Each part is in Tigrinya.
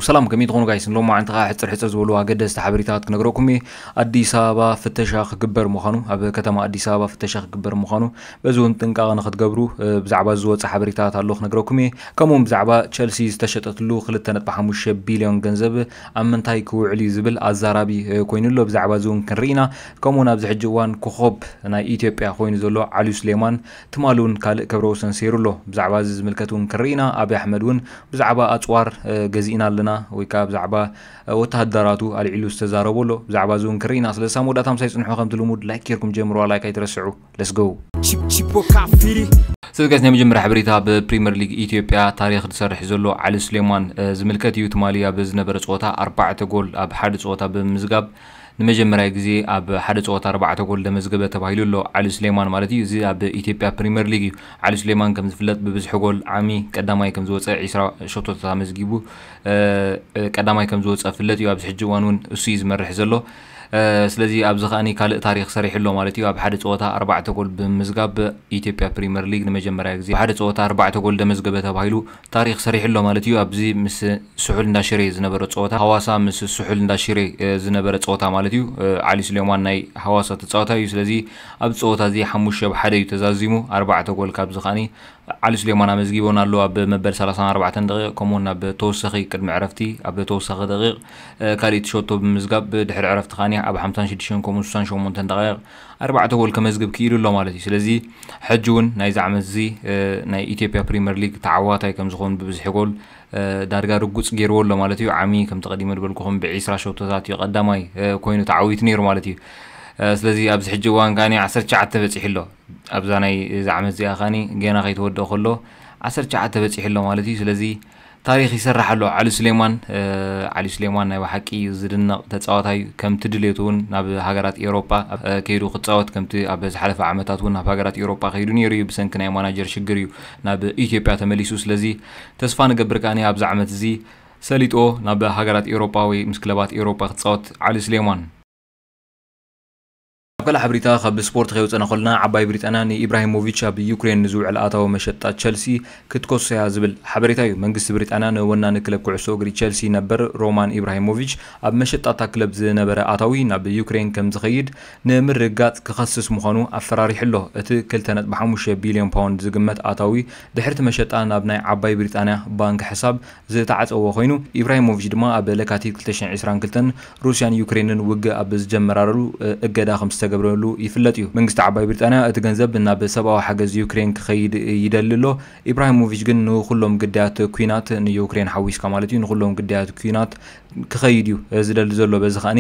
ሰላም ከመይ ትኾኑ ጋይስ ንሎማዓንቲ ከኣ ሕጽር ሕጽር ዝበሉ ኣገደስቲ ሓበሬታት ክነግረኩም እየ ኣዲስ ኣበባ ፍተሻ ክግበር ምዃኑ ኣብ ከተማ ኣዲስ ኣበባ ፍተሻ ክግበር ምዃኑ በዚ እውን ጥንቃቐ ንክትገብሩ ብዛዕባ ዝወፀ ሓበሬታት ኣሎ ክነግረኩም እየ ከምኡውን ብዛዕባ ቸልሲ ዝተሸጠትሉ 2.5 ቢልዮን ገንዘብ ኣብ ምንታይ ክውዕል እዩ ዝብል ኣዛራቢ ኮይኑ ኣሎ ብዛዕባ እዚ እውን ክንርኢ ኢና ከምኡውን ኣብዚ ሕጂ እዋን ኮኸብ ናይ ኢትዮጵያ ኮይኑ ዘሎ ዓልዩ ስሌማን ትማሊ እውን ካልእ ክብረ ወሰን ሰይሩ ኣሎ። ብዛዕባ እዚ ዝምልከት እውን ክንርኢ ኢና። ኣብይ ኣሕመድ እውን ብዛዕባ ኣጽዋር ገዚእና ኣለና ወይ ከኣ ብዛዕባ ወተሃደራቱ ኣልዒሉ ዝተዛረቦ ኣሎ። ብዛዕባ እዚ እውን ክንርኢ ኢና። ስለዚ ክሳብ መወዳእታ ምሳይ ጽንሑ ከምቲ ልሙድ ላይክ ጌርኩም ጀምርዋ ላይክ ኣይትረስዑ let's go። ስለዚ ጋይስ ናይ መጀመርያ ሓበሬታ ኣብ ፕሪመር ሊግ ኢትዮጵያ ታሪኽ ዝሰርሕ ዘሎ ዓሊ ሱሌማን ዝምልከት እዩ። ትማሊ ኣብ ዝነበረ ጸወታ ኣርባዕተ ጎል ኣብ ሓደ ጸወታ ብምምዝጋብ ንመጀመርያ ግዜ ኣብ ሓደ ጸወታ ኣርባዕተ ጎል ዘመዝገበ ተባሂሉ ኣሎ፣ ዓሊ ሱሌማን ማለት እዩ። እዚ ኣብ ኢትዮጵያ ፕሪመር ሊግ እዩ። ዓሊ ሱሌማን ከም ዝፍለጥ ብብዝሒ ጎል ዓሚ ቀዳማይ ከም ዝወጸ ዕስራ ሸቶታት ኣመዝጊቡ ቀዳማይ ከም ዝወጸ ፍለጥ እዩ። ኣብዚ ሕጂ እዋን እውን እሱ እዩ ዝመርሕ ዘሎ። ስለዚ ኣብዚ ከኣ ካልእ ታሪኽ ሰሪሑ ኣሎ ማለት እዩ። ኣብ ሓደ ጸወታ ኣርባዕተ ጎል ብምምዝጋብ ኢትዮጵያ ፕሪመር ሊግ ንመጀመርያ ግዜ ሓደ ጸወታ ኣርባዕተ ጎል ዘመዝገበ ተባሂሉ ታሪኽ ሰሪሑ ኣሎ ማለት እዩ ኣብዚ ምስ ስሑል እንዳ ሽሬ ዝነበሮ ጸወታ ሃዋሳ ምስ ስሑል እንዳ ሽሬ ዝነበረ ጸወታ ማለት እዩ ዓሊ ስሌማን ናይ ሃዋሳ ተጻዋታይ እዩ ስለዚ ኣብዚ ጸወታ እዚ ሓሙሽተ ብ ሓደ እዩ ተዛዚሙ ኣርባዕተ ጎል ካብዚ ከኣ ዓሊ ስሌማን ኣመዝጊቦን ኣሎ ኣብ መበል ሰላሳን ኣርባዕተን ደቂቕ ከምኡውን ኣብ ተወሳኺ ቅድሚ ዕረፍቲ ኣብ ተወሳኺ ደቂቕ ካልኢት ሸቶ ብምምዝጋብ ድሕሪ ዕረፍቲ ከኣ ኣብ ሓምሳን ሽዱሽተን ከምኡውን ስሳን ሸሞንተን ደቃይቕ ኣርባዕተ ጎል ከመዝግብ ክኢሉ ኣሎ ማለት እዩ። ስለዚ ሕጂ እውን ናይዚ ዓመት እዚ ናይ ኢትዮጵያ ፕሪመር ሊግ ተዓዋታይ ከም ዝኸውን ብብዝሒ ጎል ዳርጋ ርጉጽ ገይርዎ ኣሎ ማለት እዩ። ዓሚ ከምቲ ቀዲመ ዝበልኩኹም ብዒስራ ሸቶታት እዩ ቀዳማይ ኮይኑ ተዓዊቱ ነይሩ ማለት እዩ። ስለዚ ኣብዚ ሕጂ እዋን ከኣ ዓሰርተ ትሽዓተ በጺሑ ኣሎ። ኣብዛ ናይ እዚ ዓመት እዚኣ ከኣ ገና ከይተወድኦ ከሎ ዓሰርተ ትሽዓተ በጺሑ ኣሎ ማለት እዩ። ስለዚ ታሪኽ ይስራሕ ኣሎ ዓሊ ሱሌማን። ዓሊ ሱሌማን ናይ በሓቂ ዝድነቕ ተጻዋታይ እዩ። ከምቲ ድሌቱ እውን ናብ ሃገራት ኤውሮጳ ከይዱ ክጻወት ከምቲ ኣብ ዝሓለፈ ዓመታት እውን ናብ ሃገራት ኤውሮጳ ከይዱ ነይሩ እዩ። ብሰንኪ ናይ ማናጀር ሽግር እዩ ናብ ኢትዮጵያ ተመሊሱ። ስለዚ ተስፋ ንገብር ከኣ ኣብዚ ዓመት እዚ ሰሊጥዎ ናብ ሃገራት ኤውሮጳ ወይ ምስ ክለባት ኤውሮጳ ክጻወት ዓሊ ሱሌማን። ኣብ ካልእ ሓበሬታ ካብ ስፖርት ከይወጸና ኮለና ዓባይ ብሪጣንያ ንኢብራሂሞቪች ኣብ ዩክሬን ንዝውዕል ኣታዊ መሸጣ ቸልሲ ክትከሶ'ያ ዝብል ሓበሬታ'ዩ መንግስቲ ብሪጣንያ ንወናኒ ክለብ ኩዕሶ እግሪ ቸልሲ ነበር ሮማን ኢብራሂሞቪች ኣብ መሸጣ እታ ክለብ ዝነበረ ኣታዊ ናብ ዩክሬን ከምዝኸይድ ንምርግጋጽ ክኸስስ ምዃኑ ኣፈራሪሑ'ሎ እቲ ክልተ ነጥቢ ሓሙሽተ ቢልዮን ፓውንድ ዝግመት ኣታዊ ድሕሪ'ቲ መሸጣ ናብ ናይ ዓባይ ብሪጣንያ ባንክ ሕሳብ ዝተዓጸዎ ኮይኑ፣ ኢብራሂሞቪች ድማ ኣብ ለካቲት ክልተ ሽሕን ዕስራን ክልተን ሩስያን ዩክሬንን ውግእ ኣብ ዝጀመራረሉ እገዳ ከም ዝተገብረሉ ይፍለጥ እዩ። መንግስቲ ዓባይ ብሪጣንያ እቲ ገንዘብ ናብ ሰብኣዊ ሓገዝ ዩክሬን ክኸይድ ይደሊ ኣሎ። ኢብራሂሞቪች ግን ንኹሎም ግዳያት ኲናት፣ ንዩክሬን ሓዊስካ ማለት እዩ፣ ንኹሎም ግዳያት ኲናት ክኸይድ እዩ ዝደሊ ዘሎ። በዚ ከኣ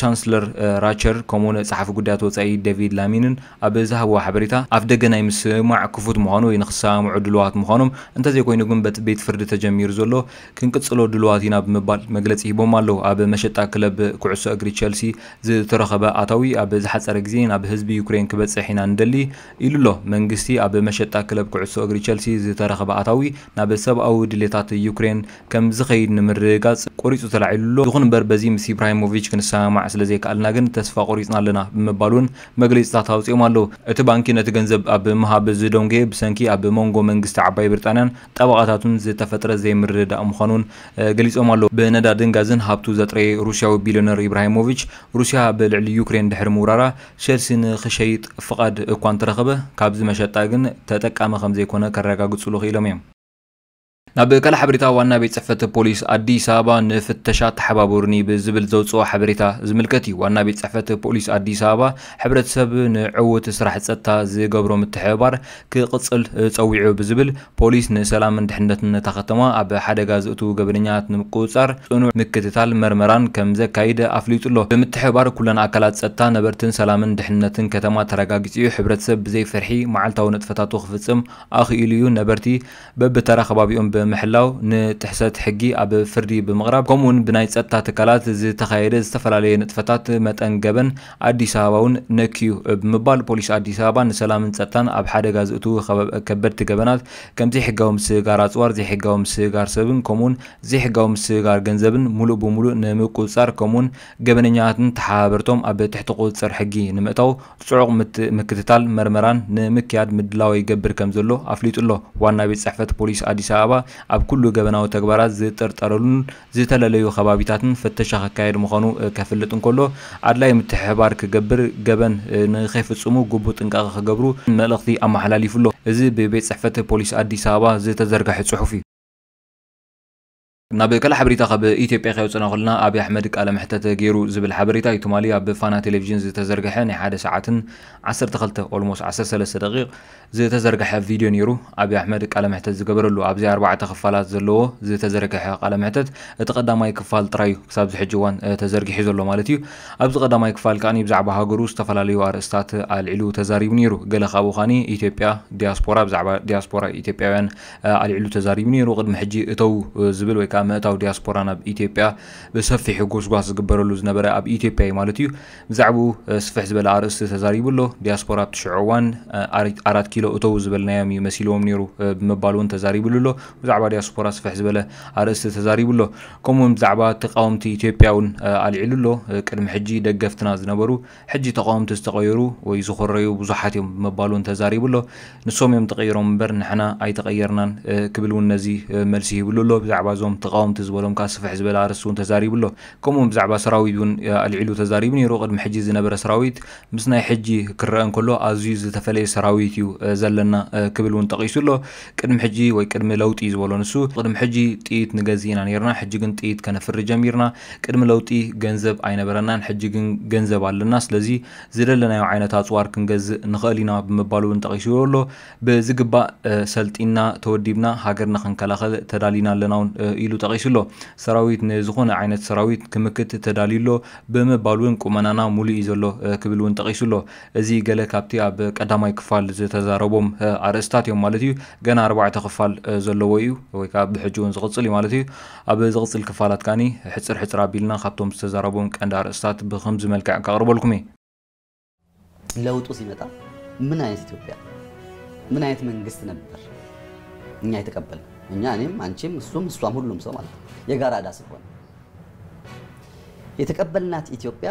ቻንስለር ራቸር ከምኡ'ውን ጸሓፊ ጉዳያት ወጻኢ ደቪድ ላሚንን ኣብ ዝሃብዎ ሓበሬታ፣ ኣፍደገ ናይ ምስማዕ ክፉት ምዃኑ ወይ ንክሰማምዑ ድሉዋት ምዃኖም፣ እንተዘይኮይኑ ግን በቲ ቤት ፍርዲ ተጀሚሩ ዘሎ ክንቅጽሎ ድሉዋት ኢና ብምባል መግለጺ ሂቦም ኣለዉ። ኣብ መሸጣ ክለብ ኩዕሶ እግሪ ቸልሲ ዝተረኸበ ኣታዊ ኣብ ዝሓጸረ ግዜ ናብ ህዝቢ ዩክሬን ክበጽሕ ኢና ንደሊ ኢሉ'ሎ። መንግስቲ ኣብ መሸጣ ክለብ ኩዕሶ እግሪ ቸልሲ ዝተረኸበ ኣታዊ ናብ ሰብኣዊ ድሌታት ዩክሬን ከም ዝኸይድ ንምርግጋጽ ቆሪጹ ተላዒሉ ኣሎ፣ ይኹን እምበር በዚ ምስ ኢብራሂሞቪች ክንሰማማዕ ስለ ዘይከኣልና ግን ተስፋ ቆሪጽና ኣለና ብምባል'ውን መግለጺታት ኣውጺኦም ኣለዉ። እቲ ባንኪ ነቲ ገንዘብ ኣብ ምሃብ ዝደንጎየ ብሰንኪ ኣብ መንጎ መንግስቲ ዓባይ ብሪጣንያን ጠበቓታቱን ዝተፈጥረ ዘይምርድዳእ ምዃኑ'ውን ገሊጾም ኣለዉ። ብነዳድን ጋዝን ሃብቱ ዘጥረየ ሩስያዊ ቢልዮነር ኢብራሂሞቪች፣ ሩስያ ኣብ ልዕሊ ዩክሬን ድሕሪ ምውራራ ቸልሲ ንኽሸይጥ ፍቓድ እኳ እንተረኸበ፣ ካብዚ መሸጣ ግን ተጠቃሚ ከም ዘይኮነ ከረጋግጹሉ ክኢሎም እዮም። ናብ ካልእ ሓበሬታ ዋና ቤት ፅሕፈት ፖሊስ ኣዲስ ኣበባ ንፍተሻ ተሓባበሩኒ ብዝብል ዘውፅኦ ሓበሬታ ዝምልከት እዩ። ዋና ቤት ፅሕፈት ፖሊስ ኣዲስ ኣበባ ሕብረተሰብ ንዕዉት ስራሕ ፀጥታ ዝገብሮ ምትሕብባር ክቕፅል ፀዊዑ ብዝብል ፖሊስ ንሰላምን ድሕንነትን እታ ከተማ ኣብ ሓደጋ ዘእትዉ ገበነኛታት ንምቁፅፃር ፅኑዕ ምክትታል መርመራን ከምዘካይድ ኣፍሊጡ ኣሎ። ብምትሕብባር ኩለን ኣካላት ፀጥታ ነበርትን ሰላምን ድሕንነትን ከተማ ተረጋጊፁ እዩ። ሕብረተሰብ ብዘይ ፍርሒ መዓልታዊ ንጥፈታቱ ክፍፅም ኣኽኢሉ እዩ። ነበርቲ በብተራ ከባቢኦም ብምሕላው፣ ንጥሕሰት ሕጊ ኣብ ፍርዲ ብምቕራብ፣ ከምኡ'ውን ብናይ ጸጥታ ትካላት ዝተኻየደ ዝተፈላለየ ንጥፈታት መጠን ገበን ኣዲስ ኣበባ'ውን ነክዩ እብ ምባል ፖሊስ ኣዲስ ኣበባ ንሰላምን ጸጥታን ኣብ ሓደጋ ዝእትው ከበድቲ ገበናት ከም ዘይሕጋዊ ምስግጋር ኣጽዋር፣ ዘይሕጋዊ ምስግጋር ሰብን ከምኡ'ውን ዘይሕጋዊ ምስግጋር ገንዘብን ሙሉእ ብሙሉእ ንምቁጽጻር ከምኡ'ውን ገበነኛታትን ተሓባበርቶም ኣብ ትሕቲ ቁጽጽር ሕጊ ንምእታው ፅዑቕ ምክትታል መርመራን ንምክያድ ምድላዎ ይገብር ከምዘሎ ኣፍሊጡ'ሎ። ዋና ቤት ፅሕፈት ፖሊስ ኣዲስ ኣበባ ኣብ ኩሉ ገበናዊ ተግባራት ዝጥርጠረሉን ዝተለለዩ ከባቢታትን ፍተሻ ከካየድ ምዃኑ ከፍልጥ እንከሎ ኣድላይ ምትሕብባር ክገብር ገበን ንከይፍፅሙ ግቡእ ጥንቃቐ ክገብሩ መልእኽቲ ኣመሓላሊፉ'ሎ። እዚ ብቤት ፅሕፈት ፖሊስ ኣዲስ ኣበባ ዝተዘርገሐ ፅሑፍ እዩ። ናብ ካልእ ሓበሬታ ካብ ኢትዮጵያ ከየውጸና ከሎና ኣብይ ኣሕመድ ቃለ መሕተት ገይሩ ዝብል ሓበሬታ እዩ ትማሊ ኣብ ፋና ቴሌቪዥን ዝተዘርገሐ ናይ ሓደ ሰዓትን ዓሰርተ ክልተ ኦልሞስ ዓሰርተ ሰለስተ ደቂቕ ዝተዘርገሐ ቪድዮ ነይሩ ኣብይ ኣሕመድ ቃለ መሕተት ዝገበረሉ ኣብዚ ኣርባዕተ ክፋላት ዘለዎ ዝተዘርገሐ ቃለ መሕተት እቲ ቀዳማይ ክፋል ጥራይ እዩ ክሳብ ዝሕጂ እዋን ተዘርጊሑ ዘሎ ማለት እዩ ኣብዚ ቀዳማይ ክፋል ከዓኒ ብዛዕባ ሃገሩ ዝተፈላለዩ ኣርእስታት ኣልዒሉ ተዛሪቡ ነይሩ ገለ ካብኡ ከዓኒ ኢትዮጵያ ዲያስፖራ ብዛዕባ ዲያስፖራ ኢትዮጵያውያን ኣልዒሉ ተዛሪቡ ነይሩ። ቅድሚ ሕጂ እተው ዝብል ወይ ከኣ ምእታው ዲያስፖራ ናብ ኢትዮጵያ ብሰፊሑ ጎስጓስ ዝግበረሉ ዝነበረ ኣብ ኢትዮጵያ እዩ ማለት እዩ። ብዛዕብኡ ስፍሕ ዝበለ ኣርእስቲ ተዛሪቡ ኣሎ። ዲያስፖራ ኣብቲ ሽዑ እዋን ኣራት ኪሎ እተው ዝበልናዮም እዩ መሲልዎም ነይሩ ብምባል እውን ተዛሪብሉ ኣሎ። ብዛዕባ ዲያስፖራ ስፍሕ ዝበለ ኣርእስቲ ተዛሪቡ ኣሎ። ከምኡውን ብዛዕባ ተቃወምቲ ኢትዮጵያ እውን ኣልዒሉ ኣሎ። ቅድሚ ሕጂ ደገፍትና ዝነበሩ ሕጂ ተቓወምቲ ዝተቐየሩ ወይ ዝኾረዩ ብዙሓት እዮም ብምባሉ እውን ተዛሪቡ ኣሎ። ንሶም እዮም ተቐይሮም እምበር ንሕና ኣይተቐየርናን ክብል እውን ነዚ መልሲ ሂብሉ ኣሎ። ብዛዕባ እዞም ተቓወምቲ ዝበሎም ከኣ ስፍሕ ዝበለ ኣርእስቲ እውን ተዛሪቡ ኣሎ። ከምኡ እውን ብዛዕባ ሰራዊት እውን ኣልዒሉ ተዛሪቡ ነይሩ። ቅድሚ ሕጂ ዝነበረ ሰራዊት ምስ ናይ ሕጂ ክረኣ እንከሎ ኣዝዩ ዝተፈለየ ሰራዊት እዩ ዘለና ክብል እውን ጠቒሱ ኣሎ። ቅድሚ ሕጂ ወይ ቅድሚ ለውጢ ዝበሎ ንሱ። ቅድሚ ሕጂ ጥይት ንገዝእ ኢና ነይርና ሕጂ ግን ጥይት ከነፍሪ ጀሚርና። ቅድሚ ለውጢ ገንዘብ ኣይነበረናን ሕጂ ግን ገንዘብ ኣለና ስለዚ ዝደለናዮ ዓይነት ኣጽዋር ክንገዝእ ንኸእል ኢና ብምባል እውን ጠቒስዎ ኣሎ። ብዝግባእ ሰልጢንና ተወዲብና ሃገርና ክንከላኸል ተዳሊና ኣለና እውን ኢሉ ጠቒሱ ኣሎ። ሰራዊት ንዝኾነ ዓይነት ሰራዊት ክምክት ተዳልዩ ኣሎ ብምባል እውን ቁመናና ሙሉእ እዩ ዘሎ ክብል እውን ጠቒሱ ኣሎ። እዚ ገለ ካብቲ ኣብ ቀዳማይ ክፋል ዝተዛረቦም ኣርእስታት እዮም ማለት እዩ። ገና ኣርባዕተ ክፋል ዘለዎ እዩ ወይ ከዓ ብሕጂ እውን ዝቕፅል እዩ ማለት እዩ። ኣብ ዝቕጽል ክፋላት ከኣ ሕጽር ሕጽር ኣቢልና ካብቶም ዝተዛረቡዎም ቀንዲ ኣርእስታት ብኽምዚ መልክዕ ከቕርበልኩም እየ። ለውጡ ሲመጣ ምን አይነት ኢትዮጵያ ምን አይነት መንግስት ነበር እኛ የተቀበልነው እኛ እኔም አንቺም እሱም እሷም ሁሉም ሰው ማለት ነው የጋራ እዳ ስለሆነ የተቀበልናት ኢትዮጵያ